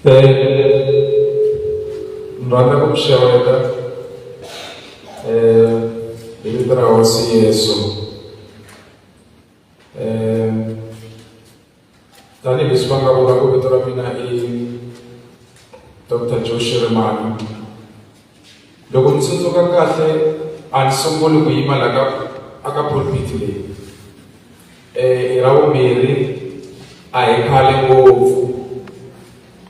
ni rhandza ku mi xeweta um hi vito ra hosi yesu um tanihi leswi va nga vula ku vito ra mina i dr joe shirimani Loko ni tsundzuka kahle a ni sunguli ku yima la ka a ka pulpit leyi um ra vumbirhi a hi khale ngopfu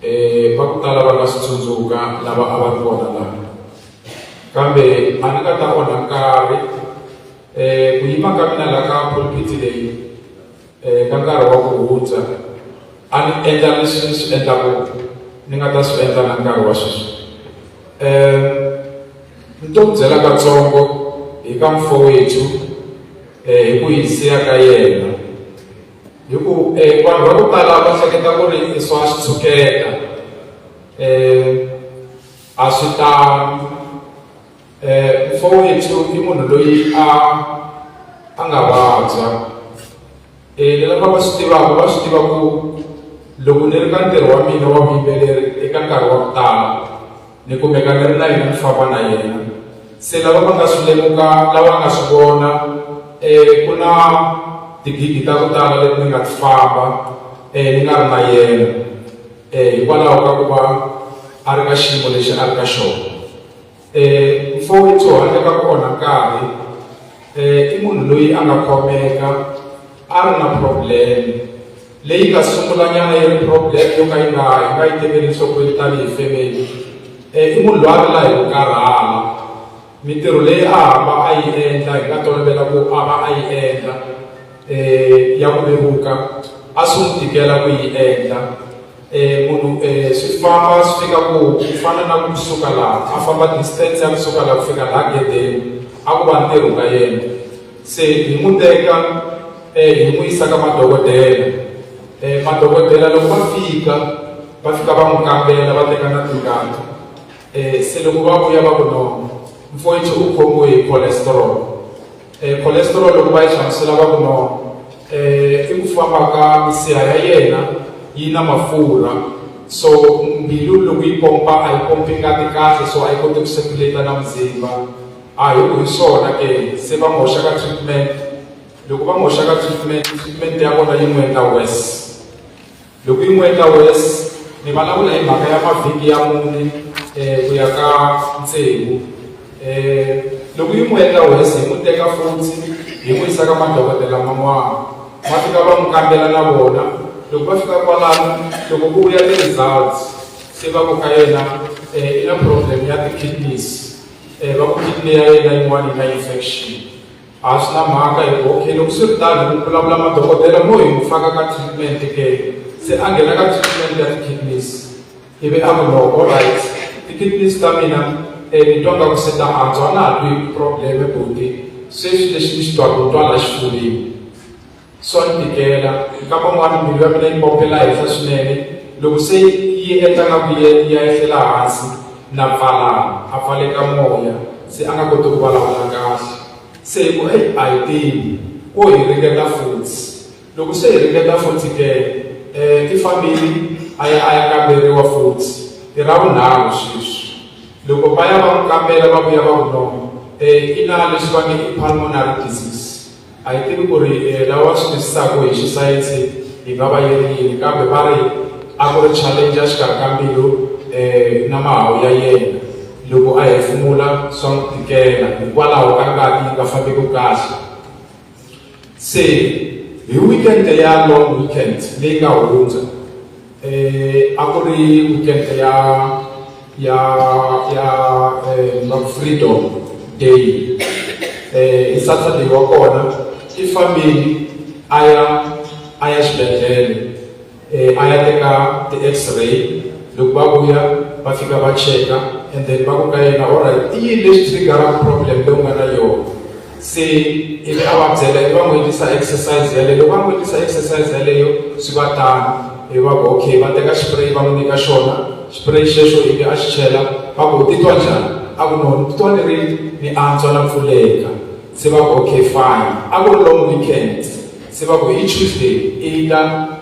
um va ku tala va nga swi tsundzuka lava a va ri kona laha kambe a ni nga ta onha nkarhi um ku yima ka mina la ka pulpit leyi eh, ka nkarhi wa ku hundza a ni endla leswi ni swi endlaku ni nga ta swi endla na nkarhi wa sweswi um ni to ku byela katsongo hi ka mfo wethu eh, hi ku hisiya ka yena hi ku eh, vanhu va ku tala va hleketa ku ri i swa swi tshuketa um a swi tano eh, mfowethu i munhu loyi a a nga vabya eh, ni lava va swi tivaka va swi tiva ku loko ni ri ka ntirho wa mina wa vuyimbeleri eka nkarhi wa ku tala ni kumeka ni ri na yena ni famba na yena se lava va nga swi lemuka lava nga swi vona um ku na tigidi ta ku tala leti ni nga ti famba um ni nga ri na yena um hikwalaho ka ku va a ri ka xiyimo lexi a ri ka xona eh mfowethu u hanya ka kona nkarhi eh i munhu loyi a nga khomeka a ri na problem leyi nga sungulanyana yi ri problem yo ka yi nga yi nga yi tekeli nhlokweni tanihi family eh i munhu loyi a ri la hi ku karhala mintirho leyi a hamba a yi endla hi nga tolovela ku a va a yi endla um ya ku vevuka a swi n'wi tikela ku yi endla Eh, munhu eh, swi famba swi fika ku ku fana na ku suka laha a famba distance ya kusuka laha ku fika laha gedeni a ku va ntirho ka yena se hi n'wi teka um hi n'wi yisa ka madokodela um madokodela loko va fika va fika va n'wi kambela va teka na tingati um se loko va vuya va ku no mfoyithi u khomiwe hi cholesterol E, cholesterol loko va yi hlamusela va ku no e, i ku famba ka misiha ya yena yi na mafurha so mbilu loko yi pompa a yi pompi ngati kahle so a yi koti ku circulata na muzimba a hi ku hi swona ke se va n'wi hoxa ka treatment loko va n'wi hoxa ka treatment treatment ya vona yi n'wi endla worse Loko yi n'weta worse, ni vulavula hi mhaka ya mavhiki ya mune um ku ya ka tsevu. Um loko yi n'weta worse, hi n'wi teka futhi hi n'wi yisa ka madokodela man'wana, va fika va n'wi kambela na vona. Loko va fika kwalano, loko ku vuya ti-results, se va ku ka yena um i na problem ya ti-kidneys, um va ku kidney ya yena yin'wana yi na infection. A swi na mhaka hi ku okay loko swi ri tano u vulavula madokodela mo hi n'wi faka ka treatment ke se a nghena ka treatment ya ti-kidneys ivi a ku loko alright ti-kidneys ta mina um ni twa nga ku se ta antswa a na ha twi probleme buti sweswi lexi ni xi twaka ni twa la xifuveni swa ni tikela nkama n'wana mbilu ya mina yi pompe laha henhla swinene loko se yi endla nga ku ya yi hlela hansi na pfalana a pfaleka moya se a nga koti ku vulavula kahle se hi ku eyi a hi tivi wo hi ringeta futhi loko se hi ringeta futhi ke um i fambile a ya a ya kamberiwa futhi i ra vunharhu sweswi loko va ya va n'wi kambela va vuya va ku no um i na leswi va nge i pulmonary disease A hi tivi ku ri lawa swi twisisaka hi xisayense yi nga va yi ri yini, kambe va ri a ku ri challenge ya xikarhi ka mbilu na mahahu ya yena. Loko a hefemula swa n'wi tikela hikwalaho ka ngati yi nga fambeki kahle. Se hi weekend ya long weekend leyi nga hundza, eh, a ku ri weekend ya ya ya eh, freedom day eh, i saturday wa kona i fambile a ya a ya xibedhlele eh, a ya teka ti-x-ray loko va vuya va fika va cheka and then va ku ka yena allright i yini lexi triggeraka problem leyi u nga na yona se ivi a va byela i va n'wi endlisa exercise yaleyo loko va n'wi endlisa exercise yaleyo swi va tano i va ku okay va teka xipureyi va n'wi nyika xona xipureyi xexo ivi a xi chela va ku u titwa njhani a ku no ni titwa ni ri ni antswa na pfuleka se va ku okay fine a ku ri long weekends se va ku hi tuesday i ta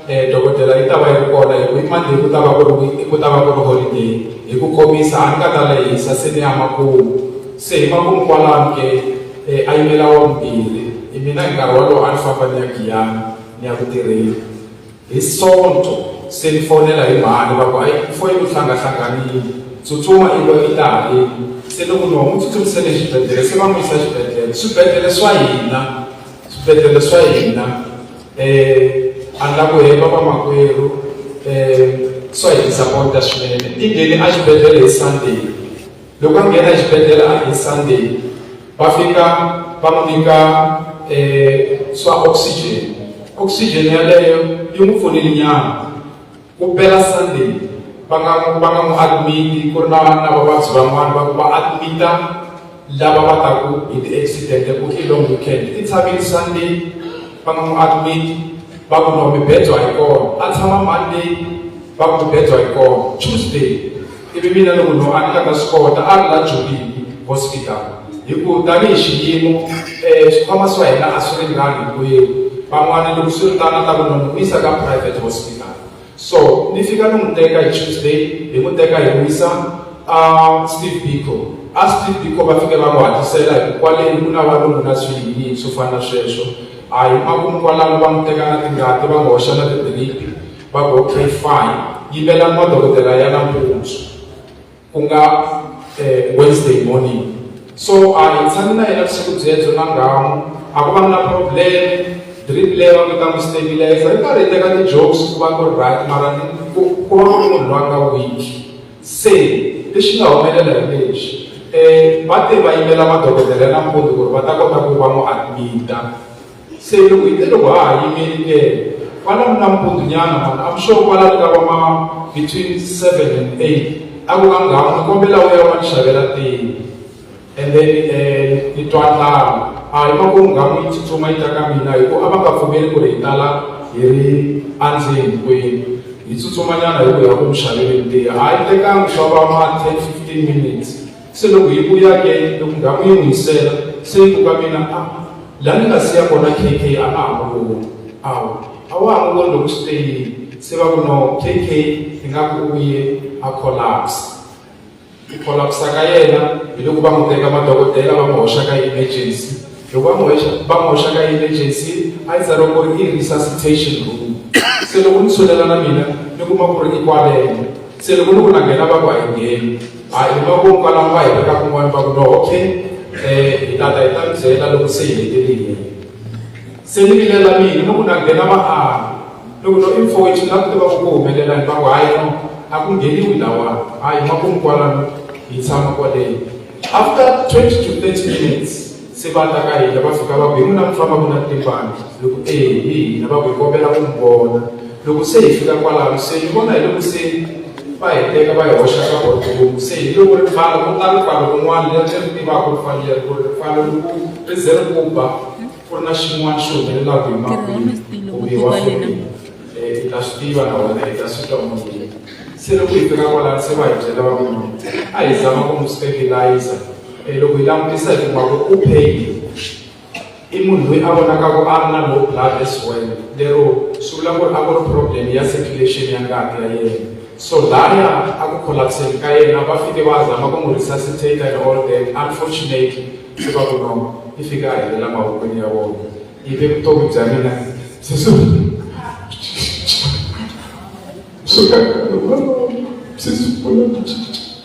um dokodela yi ta va yi ri kona hi ku i monday ku ta va ku ri ku ta va ku ri holiday hi ku komisa a ni ka ta lehisa se ni ya makumu se hi makumu kwalano ke um a yimela wa vumbirhi hi mina hi nkarhi wolowo a ni famba ni ya giyana ni ya ku tirheni Hi Sonto se ni fonela hi mhani va ku ayi foyini u hlangahlanganile tsutsuma i lo i ta haleni se loko ni homu tsutsumisele xibedhlele se va n'wi yisa xibedhlele swibedhlele swa hina swibedhlele swa hina um a ni la ku hemba vamakwerhu um swa hi disappoint-a swinene i nghene a xibedhlele hi Sunday loko a nghena exibedhlele a hi sunday va fika va n'wi nyika um swa oxygen oxygen yaleyo yi n'wi pfunile nyana ku pela sunday va nga va nga n'wi admiti ku ri na na vavabyi van'wana va ku va admita lava va taku hi ti-accident ku i long weekend i tshamile sunday va nga n'wi admiti va ku no mibedzo a yi kona a tshama monday va ku mibedzo a yi kona tuesday ivi mina loko lowu a ni nga ta swi kota a ri la jolini hospital hi ku tanihi xiyimo um eh, swikhwama swa hina a swi ringani hinkwenu van'wana loko swi ri tano ta vona n'wi yisa ka private hospital so ni fika ni n'wi teka hi tuesday hi n'wi teka hi wisa a steve bico a steve bico va fike va n'wi hatlisela hi ku kwaleni ku na valungu na swiyini swo fana na sweswo a hi makumu kwalano va n'wi teka na tingati va n'wi hoxa na tibelipi va Godfrey Fine yi vela madokodela ya nampundzu ku nga eh, Wednesday morning so a hi tshami na yena vusiku byebyo na ngamu a ku va na problem drip leyi va kota ku stabilize ri karhi teka ti-jokes ku va ku ri right mara ku ku va ku ri munhu loyi a nga weak se lexi nga humelela hi lexi um va te va yimela madokodela ya nampundzu ku ri va ta kota ku va n'wi admita se loko hi te loko ha ha yimeli ndele kwalano nampundzunyana mani am sure kwalano ka va ma between seven and eight a ku ka nghamu ni kombela u ya va ni xavela tini and then um ni twa ndlala a hi makumu nghamu yi tsutsuma yi ta ka mina hi ku a va nga pfumeli ku ri hi tala hi ri andzeni kwenu hi tsutsumanyana hi ku ya ku mi xaveleni tiya a yi tekangi swa va ma ten fifteen minutes Se loko hi vuya ke, loko ndhawu yi n'wi hisela, se yi ku ka mina, A, la ni nga siya kona KK a nga ha n'wi voni. Awu, a wa ha n'wi voni loko swi te yini? Se va ku, No, KK, ingaku u ye a collapse. Ku collapsa ka yena, hi loko va n'wi teka madokodela va n'wi hoxa ka emergency. Loko va n'wi hoxa, va n'wi hoxa ka emergency, a yi tsariwa ku ri i resuscitation room. Se loko ni tshulela na mina, ni kuma ku ri i kwaleno. Se loko ni ku na nghena, va ku a hi ngheni. A hi makumu kwalaho va hi veka kun'wana va ku no okay um hi tata hi ta mi byela loko se hi hetelile se ni vilela mina loko na nghena va a loko no i mfowethu ni lava ku tiva ku ku humelelani va ku hayi no a ku ngheniwi lawani a hi makumu kwalano hi tshama kwaleyo after twenty to thirty minutes Se va ta ka hina, va fika va ku, Hi n'wina mufana ku na timpana? Ni ku, Eya, hi hina. Va ku, Hi kombela ku mi vona. Loko se hi fika kwalano, se ni vona hi loko se va hi teka va hi hoxa ka boardroom. Se hi loko ripfalo ku ta ripfalo rin'wana leri ni ri tivaka ripfalo leri ku ri ripfalo loko ri ze ri ku ba ku ri na xin'wana xi humelelaka hi makwini kumbe wa foni eh, i ta swi tiva na wena i ta swi twa moyeni se loko hi fika kwalano se va hi byela va ku a hi zama ku mi stabilizer E loko hi langutisa hi kuma ku u payile i munhu loyi a vonaka ku a ri na low blood as well lero swi vula ku ri a ku ri problem ya circulation ya ngati ya yena so laya a ku collapseni ka yena va fike va zama ku n'wi resuscitate and all that unfortunately swi va ku no i fika a helela mavokweni ya vona ivi vutomi bya mina se swi swi ka se swi pfuna